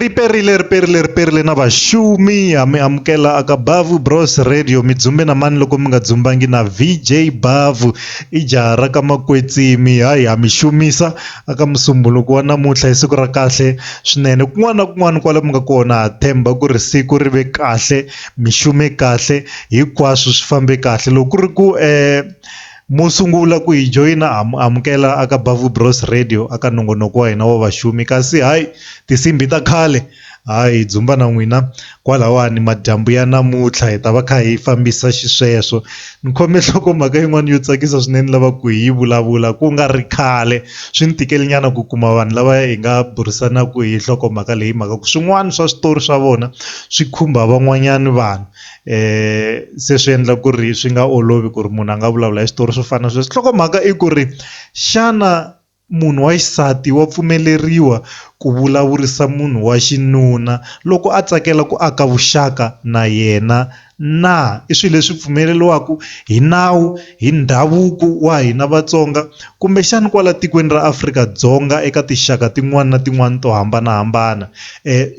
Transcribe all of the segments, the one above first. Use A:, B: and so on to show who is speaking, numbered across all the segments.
A: Riperile, riperile, riperile na vashumi ha mi amukela aka Bavu Bros Radio mi dzumbe na mani loko mi nga dzumbangi na VJ Bavu i jaha ra ka Makwetsimi hayi ha mi xumisa aka musumbhunuku wa namuntlha i siku ra kahle swinene kun'wana na kun'wana kwala mi nga kona ha tshemba ku ri siku ri ve kahle mi xume kahle hinkwaswo swi fambe kahle loko ku ri ku . Mo sungula ku hi joyina ha mi amukela aka Bavu Bros Radio aka nongonoko wa hina wa vaxumi kasi hayi tinsimbhi ta khale hayi hi dzumba na n'wina kwalawani madyambu ya namuntlha hi ta va kha hi fambisa xisweswo ni khome nhloko mhaka yin'wana yo tsakisa swinene lava ku hi vulavula ku nga ri khale swi ni tikeli nyana ku kuma vanhu lava hi nga burisanaka hi nhloko mhaka leyi mhaka ku swin'wana swa switori swa vona swi khumba van'wanyana vanhu se swi endla ku ri swi nga olovi ku ri munhu a nga vulavula hi switori swo fana na sweswo nhlokomhaka i ku ri xana munhu wa xisati wa pfumeleriwa ku vulavurisa munhu wa xinuna loko a tsakela ku aka vuxaka na yena na i swilo leswi pfumeleriwaka hi nawu. Hi ndhavuko wa hina Vatsonga, kumbexana kwala tikweni ra Afrika-Dzonga eka tinxaka tin'wana na tin'wana to hambanahambana,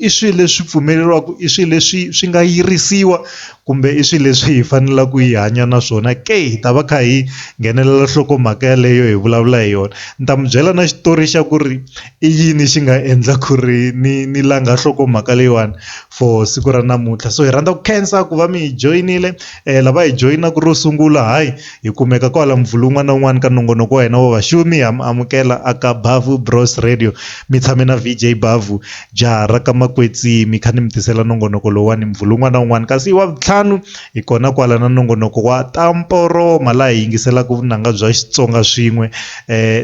A: i swilo leswi pfumeleriwaka, i swilo leswi swi nga yirisiwa kumbe i swilo leswi hi faneleke ku hi hanya na swona ke? Hi ta va kha hi nghenelela nhlokomhaka yaleyo hi vulavula hi yona. Ni ta mi byela na xitori xa ku ri. I yini xi nga endla ku ri ni ni langa nhlokomhaka leyiwani for siku ra namuntlha so hi rhandza ku khensa ku va mi hi joyinile lava hi joyinaka ro sungula hayi hi kumeka kwala Muvhulu un'wana na un'wana ka nongonoko wa hina wa vaxumi ha mi amukela a ka Bavhu Bros Radio mi tshame na V_J Bavhu jaha ra ka makwetsimi kha ni mi tisela nongonoko lowuwani Muvhulu un'wana na un'wana kasi wa vuntlhanu. Hi kona kwala na nongonoko wa Ta Mporoma laha hi yingiselaka vunanga bya Xitsonga swin'we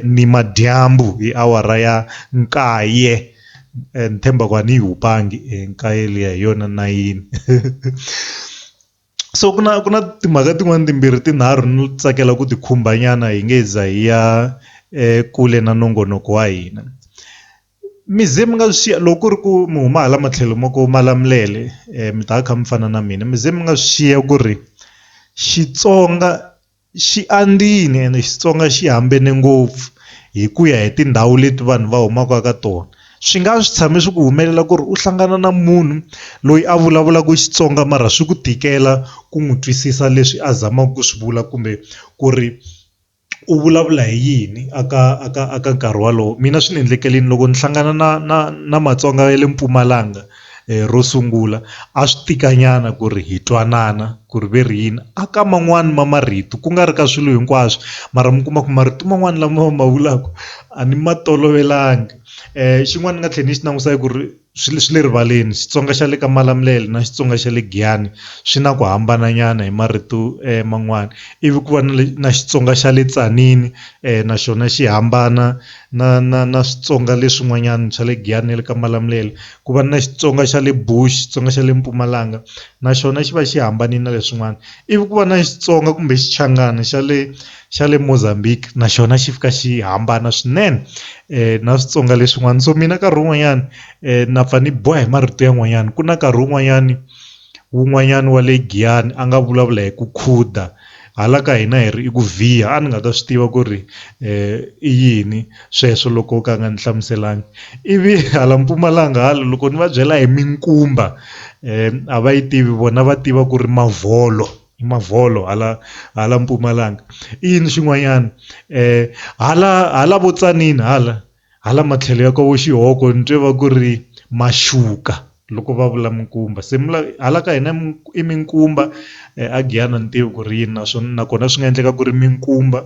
A: ni madyambu hi awara ya nkaye ni tshemba ku a ni yi hupangi nkaye liya hi yona nayini so ku na ku na timhaka tin'wani timbirhi tinharhu ni tsakela ku ti khumba nyana hi nge za hi ya ekule na nongonoko wa hina mi ze mi nga swi xiya loko ku ri ku mi huma hala matlhelo ma ku Malamulele mi ta va kha mi fana na mina mi ze mi nga swi xiya ku ri Xitsonga xi andzile ene Xitsonga xi hambane ngopfu hi ku ya hi tindhawu leti vanhu va humaka ka tona swi nga swi tshame swi ku humelela ku ri u hlangana na munhu loyi a vulavulaka Xitsonga mara swi ku tikela ku n'wi twisisa leswi a zamaka ku swi vula kumbe ku ri. u vulavula hi yini a ka a ka a ka nkarhi wolowo mina swi ni endlekela loko ni hlangana na na na Matsonga ya le Mpumalanga ro sungula a swi tika nyana ku ri hi twanana ku ri ve ri yini a ka man'wani ma marito ku nga ri ka swilo hinkwaswo mara mi kuma ku marito man'wani lama va ma vulaka a ni ma tolovelanga xin'wana ni nga tlhela ni xi langusa ku ri. swi le swi le rivaleni Xitsonga xa le ka Malamulele na Xitsonga xa le Giyani swi na ku hambana nyana hi marito man'wana ivi ku va na le na Xitsonga xa le Tzaneen na xona xi hambana na na na Switsonga leswin'wanyana swa le Giyani na le ka Malamulele ku va na Xitsonga xa le Bush Xitsonga xa le Mpumalanga na xona xi va xi hambanile na leswin'wana ivi ku va na Xitsonga kumbe Xichangani xa le xa le Mozambique na xona xi fika xi hambana swinene na switsonga leswin'wana so mina nkarhi wun'wanyani na pfa ni biwa hi marito yan'wanyani ku na nkarhi wun'wanyani wun'wanyani wa le Giyani a nga vulavula hi ku khuda hala ka hina hi ri i ku vhiya a ni nga ta swi tiva ku ri i yini sweswo loko o ka a nga ni hlamuselanga ivi hala Mpumalanga hala loko ni va byela hi minkumba a va yi tivi vona va tiva ku ri mavolo. Mavolo hala hala Mpumalanga i yini xin'wanyana hala hala vo Tzaneen hala hala matlhelo ya ka vo Xihoko ni twe va ku ri maxuka loko va vula minkumba se mi la hala ka hina i minkumba a Giyani a ni tivi ku ri yini naswona nakona swi nga endleka ku ri minkumba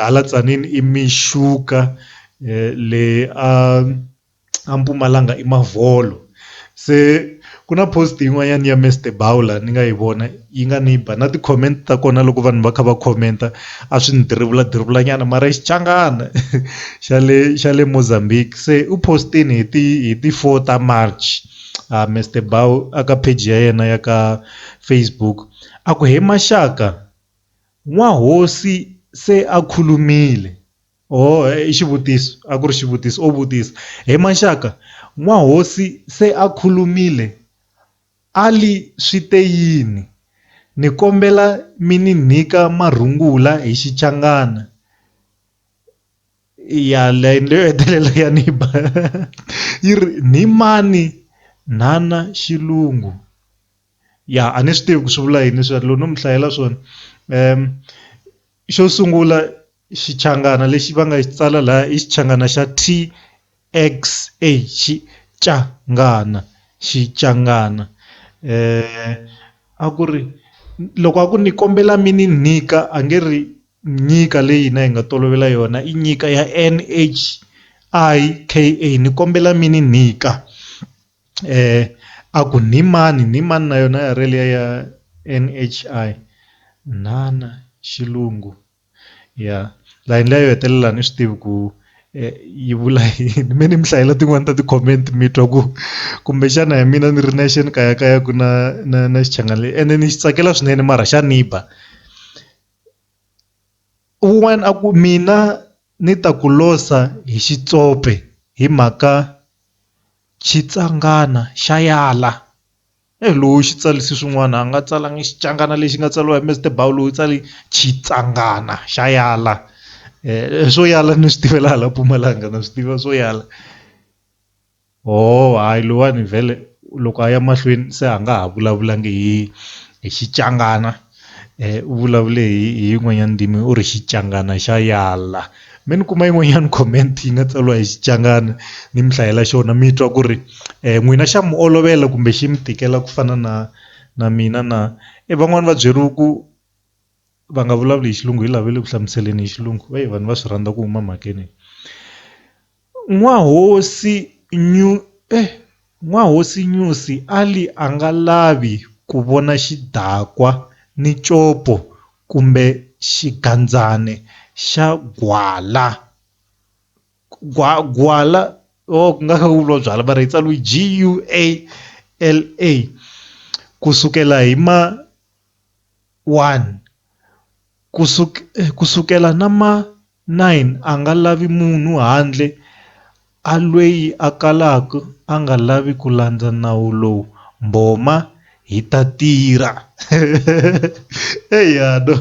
A: hala Tzaneen i mixuka leyi a. a Mpumalanga i mavolo se ku na post yin'wanyana ya Mister Bawula ni nga yi vona yi nga ni ba na ti comment ta kona loko vanhu va kha va comment a swi ni dirivula dirivula nyana mara i Xichangana xa le xa le Mozambique se u post-ini hi ti hi ti four ta March a Mister Bawula a ka page ya yena ya ka Facebook a ku he maxaka n'wahosi se a khulumile. Oho, i xivutiso, a ku ri xivutiso, o vutisa. He maxaka, n'wahosi se a khulumile, a li, Swi te yini? Ni kombela mi ni nyika marungula hi Xichangana. Yaleyo yo hetelela ya ni ba. Yi ri, Ni mani nhana xilungu? Ya, a ni swi tivi ku swi vula yini sweswo, loko no mi hlayela swona. Xo sungula xichangana lexi va nga xi tsala laha i xichangana xa T_X_A xichangana xichangana a ku ri loko a ku ni kombela mi ni nyika a nge ri nyika leyi hina hi nga tolovela yona i nyika ya N_H_I_K_A ni kombela mi ni nyika. a ku Nhimani, Nhimani na yona ya rele ya NHI, Nhana, Xilungu, ya. Layeni liya yo hetelela a ni swi tivi ku yi vula yini, me ni mi hlayela tin'wani ta ti comment mi twa ku kumbexana hi mina ni ri nexe ni kayakayaku na na na xichangani lexi ene ni xi tsakela swinene mara xa ni ba. Un'wani a ku mina ni ta ku losa hi xitsope hi mhaka. Xitsangana xa yala eyi loyi u xi tsarise swin'wana a nga tsalanga Xichangana lexi nga tsariwa hi Mister Bauloh loyi u tsale Xitsangana xa yala swo yala ni swi tiva laha la Mpumalanga na swi tiva swo yala ho hayi loyiwani vhele loko a ya mahlweni se a nga ha vulavula nge hi Xitsangana. u vulavule hi hi yin'wanyana ndzimi u ri Xichangana xa yala me ni kuma yin'wanyana comment yi nga tsariwa hi Xichangana ni mi hlayela xona mi twa ku ri n'wina xa mi olovela kumbe xi mi tikela ku fana na na mina na e van'wani va byeriwa ku va nga vulavuli hi xilungu hi lava le ku hlamuseleni hi xilungu vanhu va swi rhandza ku huma mhakeni. N'wahosi Nyusi Ali anga lavi kuvona xidakwa ni copo kumbe xigandzane xa gwala. Kusukela hi ma 1 kusukela na ma. 9 a nga lavi munhu handle a lweyi a kalaka a nga lavi ku landza nawu lowu, mbhoma hi ta tirha. Eya no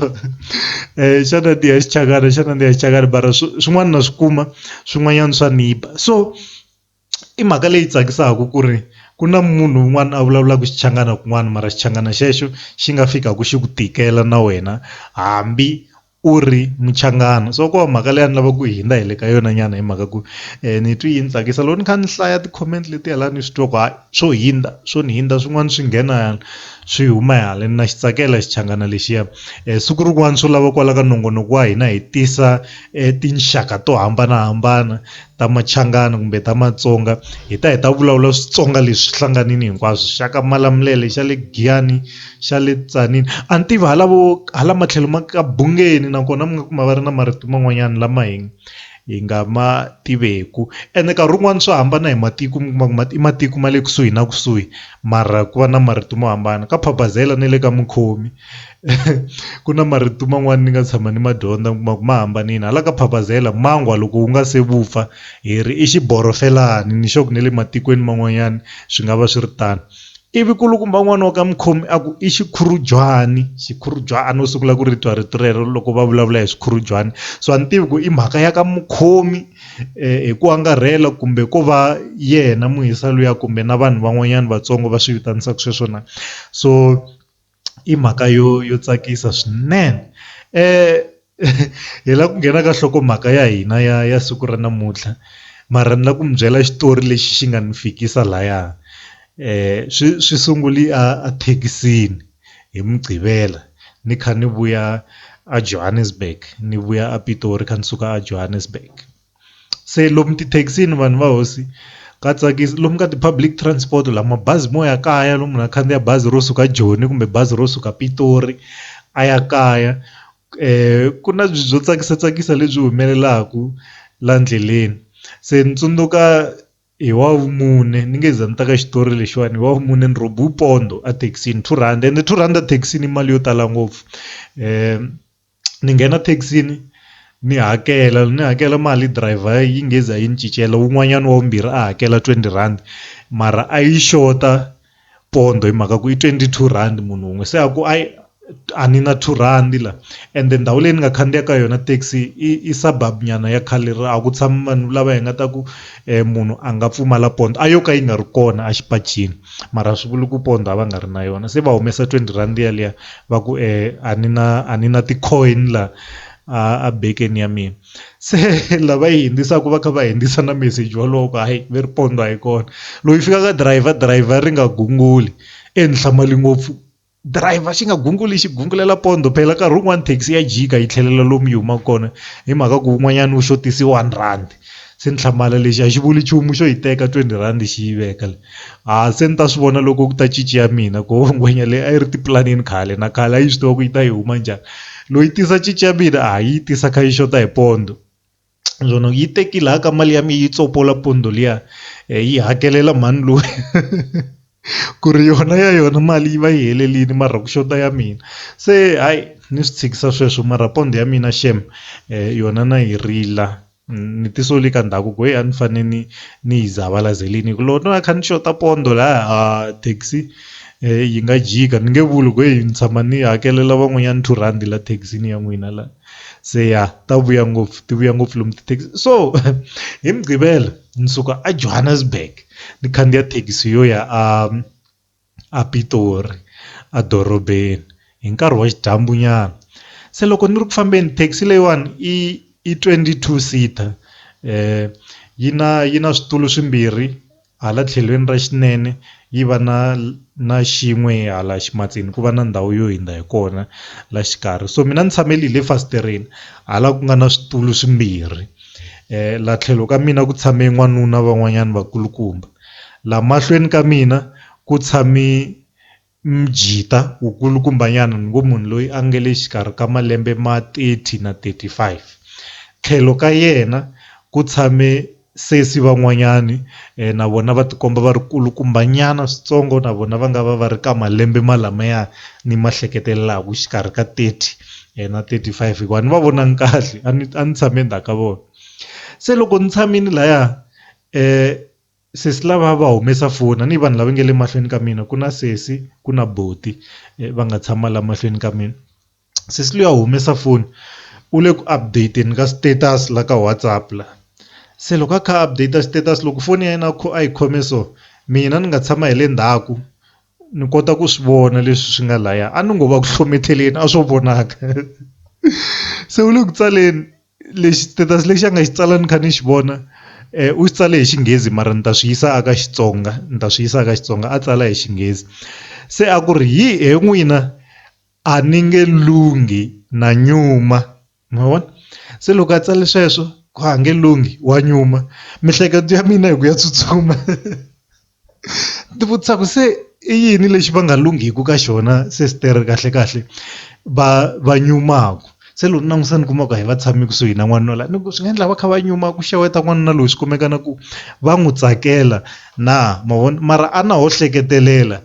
A: xana ni ya xichangana xana ni ya xichangana mara swin'wana na swi kuma swin'wanyana swa ni ba so i mhaka leyi tsakisaka ku ri ku na munhu un'wana a vulavulaka Xichangana kun'wana mara Xichangana xexo xi nga fikaka xi ku tikela na wena hambi u ri Muchangana so ko va mhaka leyi a ni lava ku hundza hi le ka yona nyana hi mhaka ku ni twi yi ni tsakisa loko ni kha ni hlaya ti-comment letiya la ni swi twa ku hayi swo hundza swo ni hundza swin'wana swi nghena hala swi huma hala na xi tsakela Xichangana lexiya siku rin'wana swo lava kwala ka nongonoko wa hina hi tisa tinxaka to hambanahambana. ta Machangana kumbe ta Matsonga hi ta hi ta vulavula Switsonga leswi hlanganini hinkwaswo xa ka Malamulele xa le Giyani xa le Tzaneen a ni tivi hala vo hala matlhelo ma ka Bungeni nakona mi nga kuma va ri na marito man'wanyana lama hi hi nga ma tiveku ene nkarhi wun'wani swa hambana hi matiko mi kuma ku ma i matiko ma le kusuhi na kusuhi mara ku va na marito mo hambana ka Phabazela na le ka Mukhomi. ku na marito man'wani ni nga tshama ni ma dyondza mi kuma ku ma hambanile hala ka phapazela mangwa loko wu nga se vupfa hi ri i xiborofelani ni sure ku na le matikweni man'wanyana swi nga va swi ri tano ivi nkulukumba n'wana wa ka mukhomi a ku i xikhurujwani xikhurujani a no sungula ku ri twa rito rero loko va vulavula hi swikhurujwani so a ni tivi ku i mhaka ya ka mukhomi hi ku angarhela kumbe ko va yena muhisa luya kumbe na vanhu van'wanyana vatsongo va swi vitanisa sweswo na so. i mhaka yo yo tsakisa swinene hi lava ku nghena ka nhlokomhaka ya hina ya ya siku ra namuntlha mara ni lava ku mi byela xitori lexi xi nga ni fikisa laya swi swi sungule a thekisini hi mugqivela ni kha ni vuya a Johannesburg ni vuya a Pitori kha ni suka a Johannesburg. se lomu tithekisini vanhu va hosi ka tsakisa lomu ka ti public transport la mabazi mo ya kaya lomu munhu a khandziya bazi ro suka Joni kumbe bazi ro suka Pitori a ya kaya ku na byo tsakisa tsakisa lebyi humelelaku la ndleleni se ni tsundzuka hi wa vumune ni nge za ni ta ka xitori lexiwani hi wa vumune ni ro pondo a thekisini two rhandi ende two rhandi a thekisini i mali yo tala ngopfu . ni nghena thekisini ni hakela ni hakela mali driver yi nge za yi ni cincela wun'wanyana wa vumbirhi a hakela twenty rand mara a yi xota pondo hi mhaka ku i twenty two rand munhu wun'we se a ku a a ni na two rhandi la ende ndhawu leyi ni nga khandziya ka yona thekisi i i suburb nyana ya khale a ku tshami vanhu lava hi nga ta ku munhu a nga pfumala pondo a yo ka yi nga ri kona exipacini mara a swi vuli ku pondo a va nga ri na yona se va humesa twenty rhandi yaliya va ku e a ni na a ni na ti-coin la a a bekeni ya mina se lava yi hundzisaka va kha va hundzisa na meseji wolowo ku hayi ve ri pondho a yi kona loko yi fika ka driver driver ri nga gunguli e ni hlamali ngopfu driver xi nga gunguli xi gungulela pondho phela nkarhi wun'wani thekisi ya jika yi tlhelela lomu yi humaka kona hi mhaka ku wun'wanyana wu xotise one rhandi. Se ni hlamala lexi a xi vuli nchumu xo yi teka twenty rhandi xi yi veka le a se ni ta swi vona loko ku ta cinci ya mina ku ngwenya leyi a yi ri tipulanini khale na khale a yi swi tiva ku yi ta yi huma njhani loyi tisa cinci ya mina a yi tisa kha yi xota hi pondo naswona yi tekile ha ka mali ya mina yi tsopola pondo liya yi hakelela mhani luya. ku ri yona ya yona mali yi va yi helerile mara ku xota ya mina se hayi ni swi tshikisa sweswo mara pond ya mina xem yona na yi rila ni ti soli ka ndhaku ku heyi a ni fane ni ni yi zavalazeleni hi ku loko no va ni kha ni xota pond laya a thekisi yi nga jika ni nge vuli ku heyi ni tshama ni hakelela van'wanyana two rhandi la thekisini ya n'wina la. se ya ta vuya ngopfu ti vuya ngopfu lomu tithekisi so hi mugqivela ni suka a Johannesburg ni khandziya thekisi yo ya a a Pitori a dorobeni hi nkarhi wa xidyambu nyana se loko ni ri ku fambeni thekisi leyiwani i i twenty two seater yi na yi na switulu swimbirhi Hala tlhelweni ra xinene yi va na na xin'we hala ximatsini ku va na ndhawu yo hindza hi kona la xikarhi so mina ni tshamele hi le fasitireni hala ku nga na switulu swimbirhi la tlhelo ka mina ku tshame n'wanuna van'wanyana vakulukumba la mahlweni ka mina ku tshame Mjita, Wukulukumbanyana ni ngo munhu loyi a nge le xikarhi ka malembe ma 30 na 35. Tlhelo ka yena ku tshame sesi van'wanyani na vona va tikomba va ri kulukumbanyana switsongo na vona va nga va va ri ka malembe malamaya ni ma hleketelelaku xikarhi ka 30 na 35 hikuva a ni va vonangi kahle a ni a ni tshame ndzhaku ka vona. Se loko ni tshamini laya Sesi lava va humesa foni a ni vanhu lava nga le mahlweni ka mina ku na sesi ku na buti va nga tshama la mahlweni ka mina sesi luya a humesa foni u le ku update-ni ka status la ka WhatsApp la se loko a kha a update status loko foni ya yena a kho a yi khome so mina ni nga tshama hi le ndzhaku ni kota ku swi vona leswi swi nga laya a ni ngo va ku hlometeleni a swo vonaka se u le ku tsaleni. Lexi status lexi a nga xi tsala ni kha ni xi vona u xi tsale hi xinghezi mara ni ta swi yisa a ka Xitsonga ni ta swi yisa a ka Xitsonga a tsala hi xinghezi se a ku ri hi he n'wina a ni nge lunghi na nyuma ma vona se loko a tsale sweswo ku a nge lunghi wa nyuma mihleketo ya mina hi ku ya tsutsuma. Ndzi vutisa ku se i yini lexi va nga lunghiki ka xona sesitere kahle kahle va va nyumaka se loko ni langutisa ni kuma ku hayi va tshame kusuhi na n'wanuna la ni ku swi nga endla va kha va nyuma ku xeweta n'wanuna loyi swi kumeka na ku va n'wi tsakela na ma vona mara a na ho hleketelela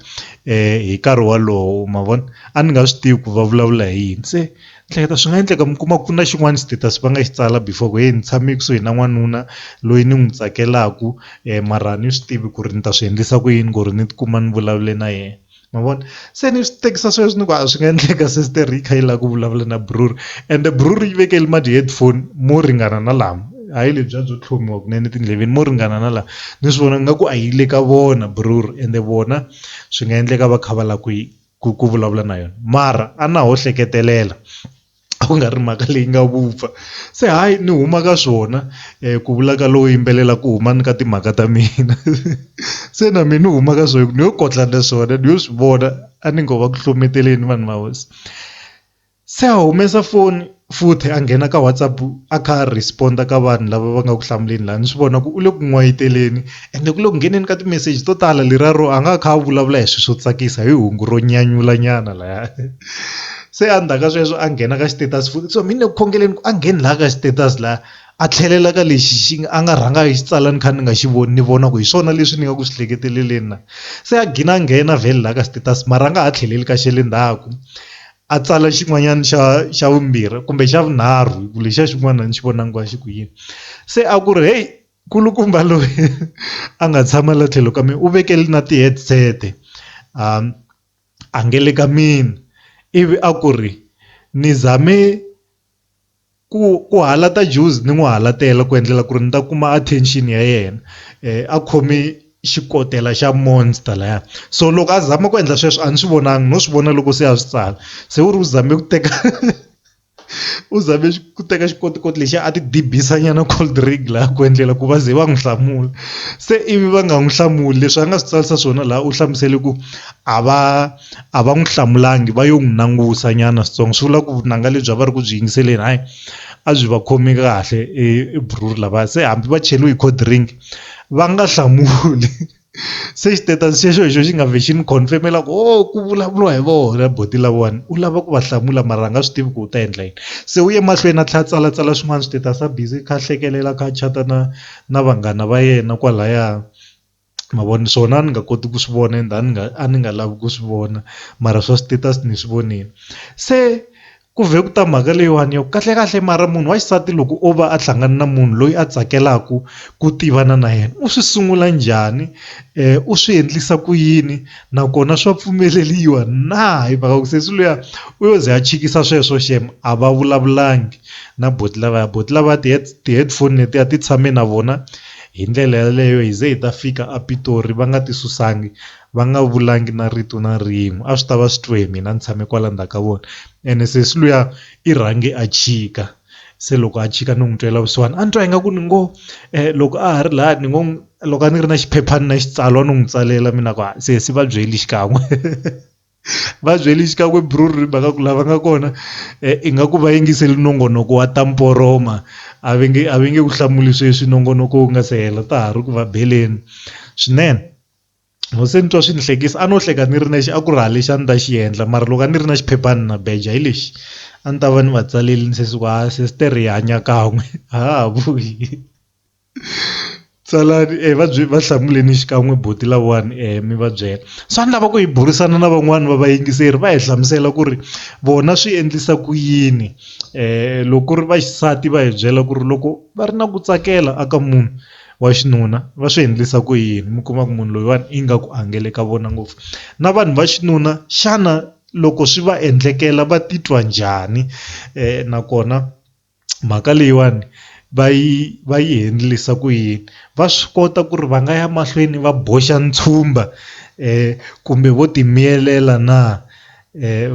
A: hi nkarhi wolowo ma vona a ni nga swi tivi ku va vulavula hi yini se. Hleketa swi nga endleka mi kuma ku na xin'wana status va nga xi tsala before ku heyi ni tshame kusuhi na n'wanuna loyi ni n'wi tsakelaku mara a ni swi tivi ku ri ni ta swi endlisa ku yini ku ri ni tikuma ni vulavule na yena ma vona se ni swi tekisa sweswi ni ku a swi nga endleka sister yi kha yi lava ku vulavula na buruku ende buruku yi vekele ma ti-headphone mo ringana na lama hayi lebyiya byo tlhomiwa kunene etindleveni mo ringana na laha ni swi vona nga ku a yi le ka vona buruku ende vona swi nga endleka va kha va lava ku yi ku ku vulavula na yona mara a na ho hleketelela a ku nga ri mhaka leyi nga vupfa se hayi ni huma ka swona ku vula ka lowo yimbelela ku huma ni ka timhaka ta mina se na mina ni huma ka swona ni yo kotla na swona ni yo swi vona a ni ngo va ku hlohloteleni vanhu va hosi. Se a humesa foni futhi a nghena ka WhatsApp a kha a respond ka vanhu lava va nga ku hlamuleni laha ni swi vona ku u le ku n'wayiteleni ende ku le ku ngheneni ka timeseji to tala leriya ro a nga a kha a vulavula hi swilo swo tsakisa hi hungu ro nyanyula nyana laya se a ndzhaku ka sweswo a nghena ka xitetasi futhi so mina ni le ku khongeleni ku a ngheni laha ka xitetasi laha a tlhelela ka lexi xi nga a nga rhanga a yi tsala ni kha ni nga xi voni ni vona ku hi swona leswi ni nga ku swi hleketeleleni na se a gina a nghena vhele laha ka xitetasi mara a nga ha tlheleli ka xa le ndzhaku A tsala xin'wanyana xa xa vumbirhi kumbe xa vunharhu hi ku lexiya xin'wana a ni xi vonangi ku a xi ku yini se a ku ri heyi nkulukumba loyi a nga tshama la tlhelo ka mehe u vekele na ti-headset a a nge le ka mina ivi a ku ri ni zame. ku ku halata juzi ni n'wi halatela ku endlela ku ri ni ta kuma attention ya yena a khome xikotela xa monster laya so loko a zama ku endla sweswo a ni swi vonangi no swi vona loko se a swi tsala se u ri u zame ku teka u zame ku teka xikotikoti lexi a ti dibisa nyana cold drink la ku endlela ku va ze va n'wi hlamula se ivi va nga n'wi hlamuli leswi a nga swi tsarisa swona laha u hlamusele ku a va. a va n'wi hlamulangi va yo n'wi langusa nyana switsongo swi vula ku vunanga lebyi a va ri ku byi yingiseleni hayi a byi va khomi kahle e buruku lavaya se hambi va cheliwe hi cold drink va nga hlamuli se xitetasi xexo hi xo xi nga vhexi ni confirm-ela ku ho ku vulavuriwa hi vona buti lavawani u lava ku va hlamula mara a nga swi tivi ku u ta endla yini se u ye mahlweni a tlha a tsalatsala swin'wana switetasi a busy a kha a hlekelela a kha a chat-a na na vanghana va yena kwalaya. ma vo ni swona a ni nga koti ku swi vona ende a ni nga a ni nga lavi ku swi vona mara swa status ni swi vonile se ku vhe ku ta mhaka leyiwani ya ku kahlekahle mara munhu wa xisati loko o va a hlangana na munhu loyi a tsakelaka ku tivana na yena u swi sungula njhani u swi endlisa ku yini nakona swa pfumeleriwa na hi mhaka ku sesi luya u yo ze a chikisa sweswo xem a va vulavulangi na buti lavaya buti lavaya ti-headphone letiya ti tshame na vona. Hi ndlela yaleyo hi ze hi ta fika a Pitori va nga ti susangi, va nga vulangi na rito na rin'we. A swi ta va swi twe hi mina ni tshame kwala ndzhaku ka vona. Ene sesi luya i rhange a chika, se loko a chika ni n'wi twela vusiwana a ni twa ingaku ni ngo loko a ha ri laya ni ngo loko a ni ri na xiphephana na xitsalwa no n'wi tsalela mina ku sesi va byeli xikan'we. va byeli xikan'we bruru ri mhaka ku lava nga kona ingaku va yingiseli nongonoko wa ta mporoma a ve nge a ve nge ku hlamuli sweswi nongonoko wu nga se hela ta ha ri ku va beleni swinene loko se ni twa swi ni hlekisa a no hleka ni ri nexe a ku ri ha lexi a ni ta xi endla mara loko a ni ri na xiphephana na beja hi lexi a ni ta va ni va tsalele ni sesi ku ha sesitere hi hanya kan'we a ha ha vuyi. Tsalani e va byi va hlamuleni xikan'we buti lawani mi va byela swa ni lava ku hi burisana na van'wani va vayingiseri va hi hlamusela ku ri vona swi endlisa ku yini loko ku ri va xisati va hi byela ku ri loko va ri na ku tsakela a ka munhu wa xinuna va swi endlisa ku yini mi kuma ku munhu loyiwani ingaku a nga le ka vona ngopfu na vanhu va xinuna xana loko swi va endlekela va titwa njhani nakona. mhaka leyiwani va yi va yi endlisa ku yini va swi kota ku ri va nga ya mahlweni va boxa ntshumba kumbe vo ti miyelela na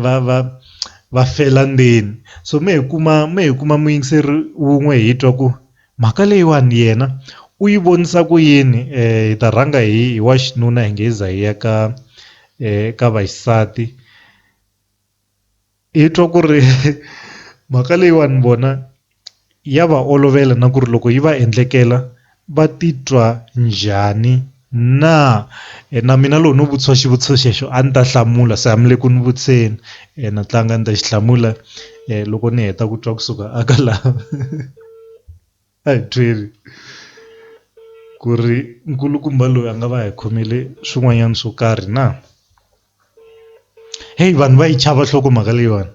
A: va va va fela ndzeni so me hi kuma me hi kuma muyingiseri wun'we hi twa ku mhaka leyiwani yena u yi vonisa ku yini hi ta rhanga hi wa xinuna hi nge hi za hi ya ka ka vaxisati. Hi twa ku ri mhaka leyiwani vona ya va olovela na ku ri loko yi va endlekela va titwa njhani na na mina loko no vutisa xivutiso xexo a ni ta hlamula se a mi le ku ni vutiseni na tlanga ni ta xi hlamula loko ni heta ku twa kusuka a ka la. a hi byeli ku ri nkulukumba loyi a nga va hi khomele swin'wanyana swo karhi na heyi vanhu va yi chava nhloko mhaka leyiwani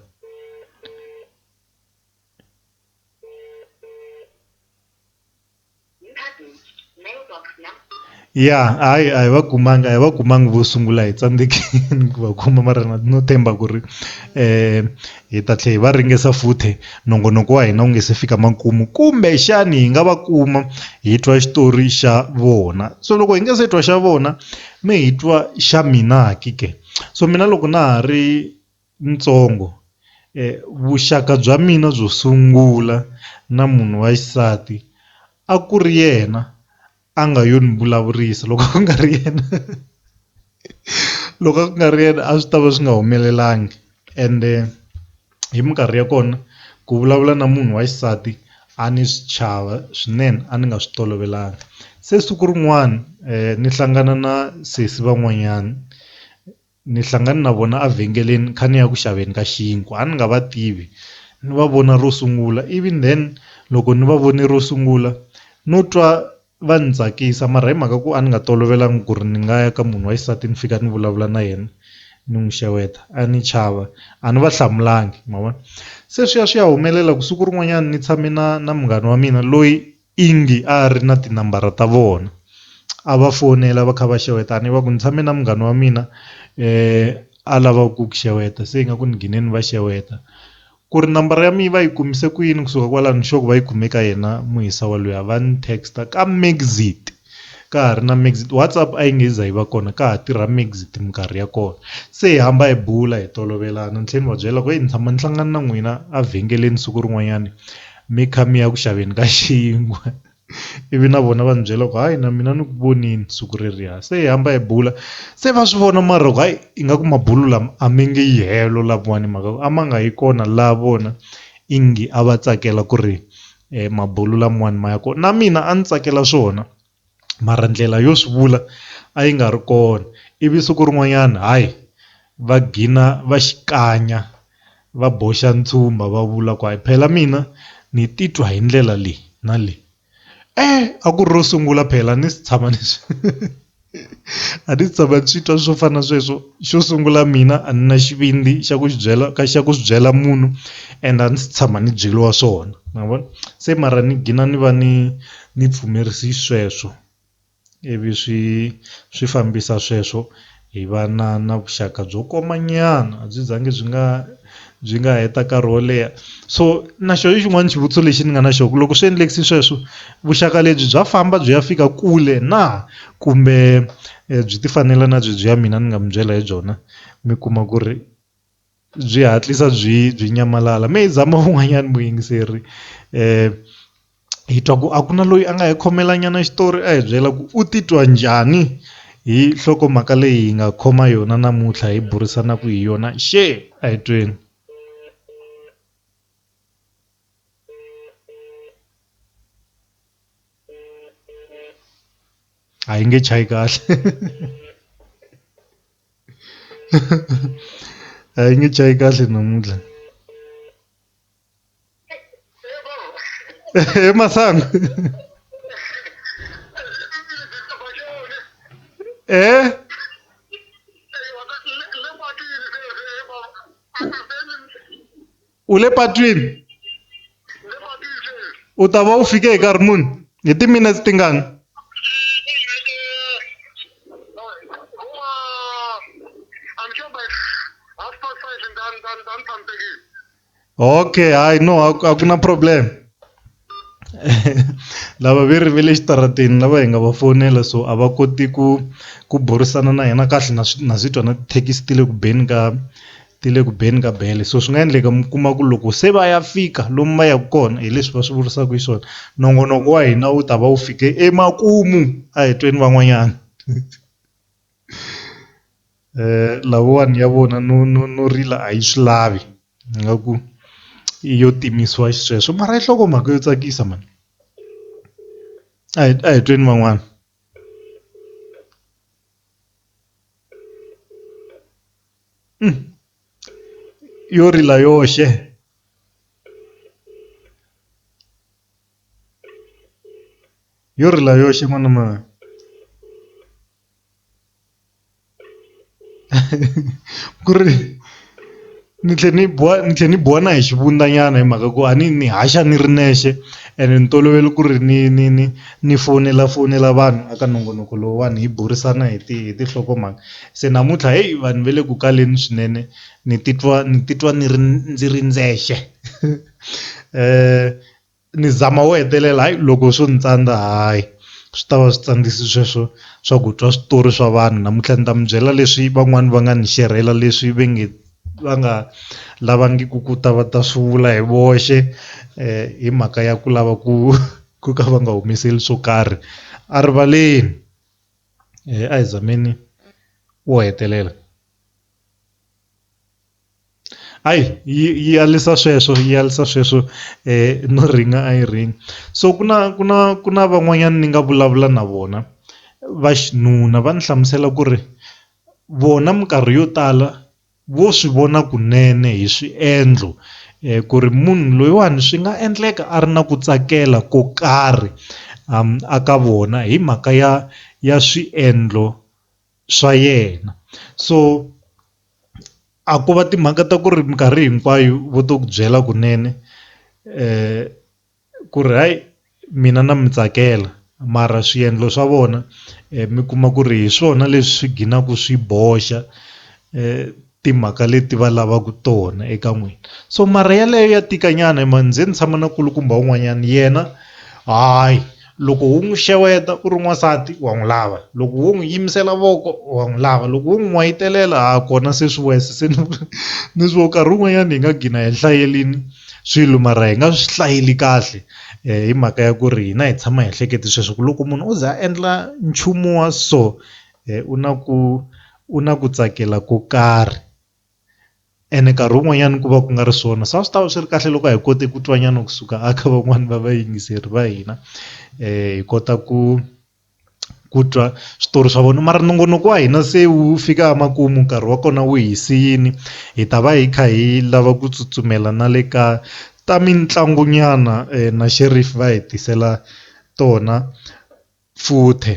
A: mailbox nam. Ya hayi a hi va kumanga a hi va kumanga vo sungula hi tsandzekile ku va kuma mara na no tshemba ku ri hi ta tlhela hi va ringesa futhi nongonoko wa hina wu nga se fika makumu kumbexani hi nga va kuma hi twa xitori xa vona so loko hi nga se twa xa vona mi hi twa xa mina ke so mina loko na ha ri. ntsongo vuxaka bya mina byo sungula na munhu wa xisati a ku ri yena a nga yo ni vulavurisa loko ku nga ri yena loko a ku nga ri yena a swi tava swi nga humelelanga ende hi minkarhi ya kona ku vulavula na munhu wa xisati a ni swi chava swinene a ni nga swi tolovelanga se siku rin'wana ni hlangana na sesi van'wanyana. Ni hlangane na vona a vhengeleni ni kha ni ya ku xaveni ka xinkwa a ni nga va tivi ni va vona ro sungula ivi then loko ni va vone ro sungula no twa va ni tsakisa mara hi mhaka ku a ni nga tolovelanga ku ri ni nga ya ka munhu wa xisati ni fika ni vulavula na yena ni n'wi xeweta a ni chava a ni va hlamulanga ma vona se swi ya swi ya humelela ku siku rin'wanyana ni tshame na na munghana wa mina loyi Ingi a a ri na tinambara ta vona. A va fonela va kha va xewetana, va ku, Ni tshame na munghana wa mina a lava ku ku xeweta, se ingaku ni ghine ni va xeweta. Ku ri nambara ya mina va yi kumise ku yini? Ku suka kwalano ni sure ku va yi kume ka yena muhisa wa luya. Va ni text-a ka Megxit. ka ha ri na Megxit WhatsApp a yi nge za yi va kona ka ha tirha Megxit minkarhi ya kona se hi hamba hi bula hi tolovelana ni tlhela ni va byela ku heyi ni tshama ni hlangana na n'wina evhengeleni siku rin'wanyani mi kha mi ya ku xaveni ka xinkwa ivi na vona va ni byela ku hayi na mina ni ku vonile siku reriya se hi hamba hi bula se va swi vona mara ku hayi ingaku mabulo lama a mi nge yi helo lavawani hi mhaka ku a ma nga yi kona laha vona i nge a va tsakela ku ri E mabulu lamwani ma ya kona na mina a ni tsakela swona mara ndlela yo swi vula a yi nga ri kona ivi siku rin'wanyana hayi va gina va xi kanya va boxa ntshumba va vula ku hayi phela mina ni titwa hi ndlela leyi na leyi a ku ri ro sungula phela ni si tshama ni swi. a ndzi se tshama ndzi twa swo fana na sweswo xo sungula mina a ni na xivindzi xa ku byela ka xa ku swi byela munhu and a ndzi se tshama ni byeriwa swona ma vona se mara ni gina ni va ni ni pfumerise sweswo ivi swi swi fambisa sweswo hi va na na vuxaka byo koma nyana a byi za ngi byi nga. byi nga heta nkarhi wo leha so na xo i xin'wani xivutiso lexi ni nga na xo ku loko swi endlekisa sweswo vuxaka lebyi bya famba byi ya fika kule na kumbe byi ti fanela na byi byi ya mina ni nga mi byela hi byona mi kuma ku ri byi hatlisa byi byi nyamalala me hi zama wun'wanyani muyingiseri . hi twa ku a ku na loyi a nga hi khomela nyana xitori a hi byela ku u titwa njhani hi nhlokomhaka leyi hi nga khoma yona namuntlha hi burisanaka hi yona xe a hi tweni a yi nge chayi kahle a yi nge chayi kahle namuntlha Eh, masango. Eh? U le patwini? U ta va u fike hi nkarhi muni? Hi timinetse tingani? ok hayi no a a ku na problem lava ve ri ve le xitarateni lava hi nga va fonela so a va koti ku ku burisana na hina kahle na swi na swi twa na tithekisi ti le ku beni ka ti le ku beni ka bele so swi nga endleka mi kuma ku loko se va ya fika lomu va yaka kona hi leswi va swi vurisaka hi swona nongonoko wa hina wu ta va wu fike emakumu a hi tweni van'wanyana. Lawani ya vona no no no rila a yi swi lavi ingaku i yo timisiwa xisweswo mara yi nhlokomhaka yo tsakisa mhani a hi a hi tweni van'wana. Yo rila yoxe yo rila yoxe n'wana mhani. ku ri ni tlhe ni biwa ni tlhe ni biwa na hi xivundza nyana hi mhaka ku a ni ni haxa ni ri nexe ene ni tolovele ku ri ni ni ni ni fonela fonela vanhu a ka nongonoko lowuwani hi burisana hi ti hi tinhlokomhaka se namuntlha heyi vanhu va le ku kaleni swinene ni titwa ni titwa ni ri ndzi ri ndzexe . ni zama wo hetelela hayi loko swo ni tsandza hayi swi tava swi tsandzisi sweswo swa ku twa switori swa vanhu namuntlha ni ta mi byela leswi van'wani va nga ni xerhela leswi ve nge va nga lavangiku ku ta va ta swi vula hi voxe hi mhaka ya ku lava ku ku ka va nga humeseli swo karhi a rivaleni a hi zameni wo hetelela. Hayi yi yi alisa sweswo yi alisa sweswo no rhinga a yi rhingi so ku na ku na ku na van'wanyana ni nga vulavula na vona va xinuna va ni hlamusela ku ri vona minkarhi yo tala vo swi vona kunene hi swiendlo ku ri munhu loyiwani swi nga endleka a ri na ku tsakela ko karhi a ka vona hi mhaka ya ya swiendlo. swa yena so a ko va timhaka ta ku ri minkarhi hinkwayo vo to ku byela kunene ku ri hayi mina na mi tsakela mara swiendlo swa vona mi kuma ku ri hi swona leswi ginaku swi boxa . timhaka leti va lavaka tona eka n'wina so mara yaleyo ya tika nyana hi mhani ndzi ni tshama na kulukumba un'wanyana yena hayi loko wu n'wi xeweta u ri n'wansati wa n'wi lava loko wo n'wi yimisela voko wa n'wi lava loko wo n'wi n'wayitelela ha kona se swi wesa se ni ni swo nkarhi wun'wanyana hi nga gina hi hlayelini swilo mara hi nga swi hlayeli kahle hi mhaka ya ku ri hina hi tshama hi hlekete sweswo ku loko munhu o ze a endla nchumu wa so u na ku u na ku tsakela ko karhi ene nkarhi wun'wanyana ku va ku nga ri swona swa swi ta va swi ri kahle loko hi kote ku twa nyana kusuka a kha van'wani va va yingiseri va hina hi kota ku ku twa switori swa vona mara nongonoko wa hina se wu fika emakumu nkarhi wa kona wu hi siyini hi ta va hi kha hi lava ku tsutsumela na le ka ta mitlangu nyana na xerifi va hi tisela tona futhe.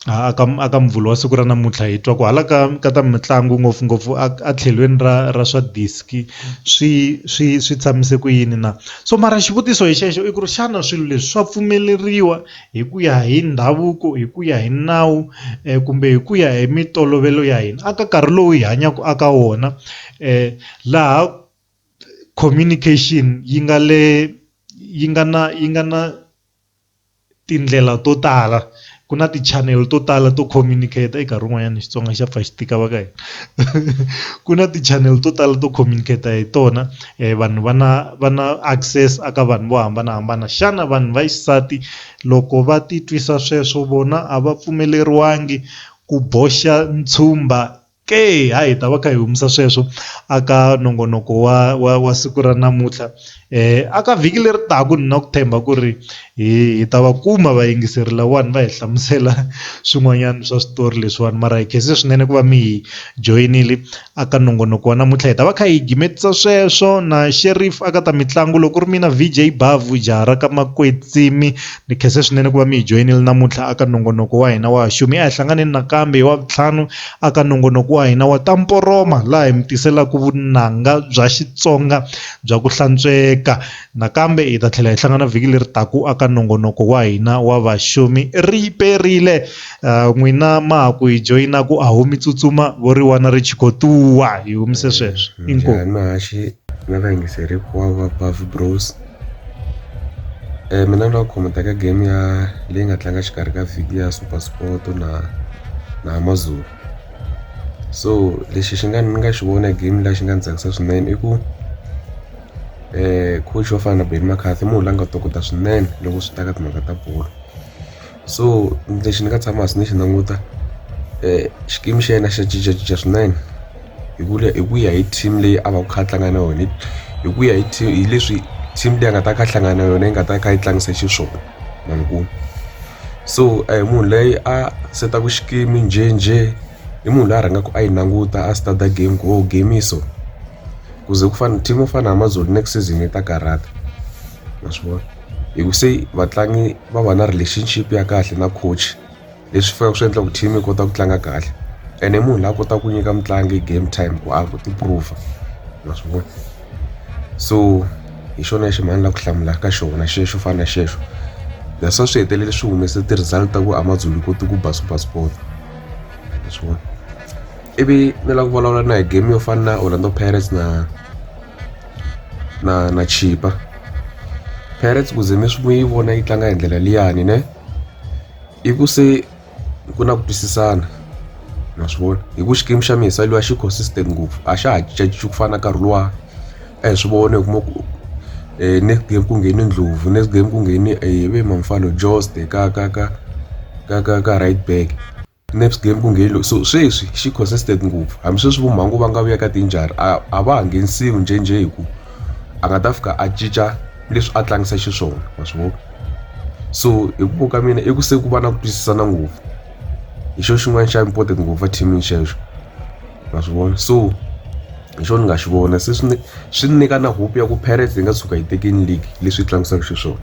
A: a ka a ka Muvhulu wa siku ra namuntlha hi twa ku hala ka ka ta mitlangu ngopfungopfu a a tlhelweni ra ra swa disc swi swi swi tshamise ku yini na, so mara xivutiso hi xexo i ku ri xana swilo leswi swa pfumeleriwa hi ku ya hi ndhavuko hi ku ya hi nawu kumbe hi ku ya hi mitolovelo ya hina a ka nkarhi lowu hi hanyaka a ka wona laha communication yi nga le yi nga na yi nga na. tindlela to tala ku na ti channel to tala to communicator nkarhi wun'wanyana Xitsonga xa pfa xi tika va ka hina ku na ti channel to tala to communicator hi tona vanhu va na va na access a ka vanhu vo hambanahambana xana vanhu va xisati loko va ti twisa sweswo vona a va pfumeleriwangi ku boxa ntshumba Ke, ha hi ta va kha hi humesa sweswo aka nongonoko wa wa wa siku ra namuntlha aka vhiki leri taka ni na ku tshemba ku ri hi hi ta va kuma vayingiseri lawani va hi hlamusela swin'wanyana swa switori leswiwani mara hi khensa swinene ku va mi hi joyinile aka nongonoko wa namuntlha hi ta va kha hi gimetisa sweswo na Sheriff aka ta mitlangu loko ku ri mina V_J Bhavhu jaha ra ka Makwetsimi. Ni khensa swinene ku va mi hi joyinile namuntlha aka nongonoko wa hina wa Xumi. A hi hlanganeni nakambe hi Wavuntlhanu aka nongonoko wa hina wa Ta Mporoma laha hi mi tiselaka vunanga bya Xitsonga bya ku hlantsweka. Nakambe hi ta tlhela hi hlangana vhiki leri taka aka nongonoko wa hina wa Vaxumi. Ri yi perile ah, n'wina ma ha ku hi joyinaka a ho mi tsutsuma vo ri wana ri chikotuwa hi humise sweswo. Inkomu. Njhani mahaxi na vayingiseri hinkwavo va Buff Bros mina ni nga khomenta ka game ya leyi nga tlanga xikarhi ka vhiki ya SuperSport na na Amazulu so lexi xi nga ni nga xi vona game la xi nga ni tsakisa swinene i ku coach yo fana na Benni McCarthy i munhu la nga tokota swinene loko swi ta ka timhaka ta bolo. so lexi ni nga tshama hansi ni xi languta xikimi xa yena xa cincacinca swinene hi ku hi ku ya hi team leyi a va ku kha a tlanga na yona hi ku ya hi team hi leswi team leyi a nga ta kha a hlangana na yona yi nga ta kha yi tlangisa xiswona ma ni ku so a hi munhu leyi a setaku xikimi njhenjhe i munhu loyi a rhangaku a yi languta a study game ku o game yi so ku ze ku fana team yo fana na Amazulu next season yi ta karhata. ma swi vona hi ku se vatlangi va va na relationship ya kahle na coach leswi faneleke swi endla ku team yi kota ku tlanga kahle ene i munhu la kota ku nyika mutlangi game time ku a ku ti prove ma swi vona so hi xona lexi mhani la ku hlamula ka xona xexo fana na xexo leswa swi hetelele swi humese ti-result ta ku amazulu koti ku ba super sport ma swi vona ivi ni lava ku vulavula na hi game yo fana na orlando pirates na na na chipa parrots ku ze mi swi mi yi vona yi tlanga hi ndlela liyani ne i ku se ku na ku twisisana ma swi vona hi ku xikimi xa mina saliwa xi consistent ngopfu a xa ha cincacinci ku fana na nkarhi luwa a hi swi vona hi kuma ku um next game ku ngheni ndlhovu next game ku ngheni hi ve mamfalo jost ka ka ka ka ka ka right back. Next game ku nghe lo so sweswi xi consistent ngopfu hambi sweswi vo mhangu va nga vuya ka tinjhari a a va ha nghenisiwi njhenjhe hi ku a nga ta fika a cinca leswi a tlangisa xiswona wa swi vona so hi ku ka mina i ku se ku va na ku twisisana ngopfu hi xo xin'wana xa important ngopfu a team xexo wa swi vona so hi xo ni nga xi vona se swi swi nyika na hope ya ku Pirates yi nga tshuka yi tekini league leswi tlangisaka xiswona.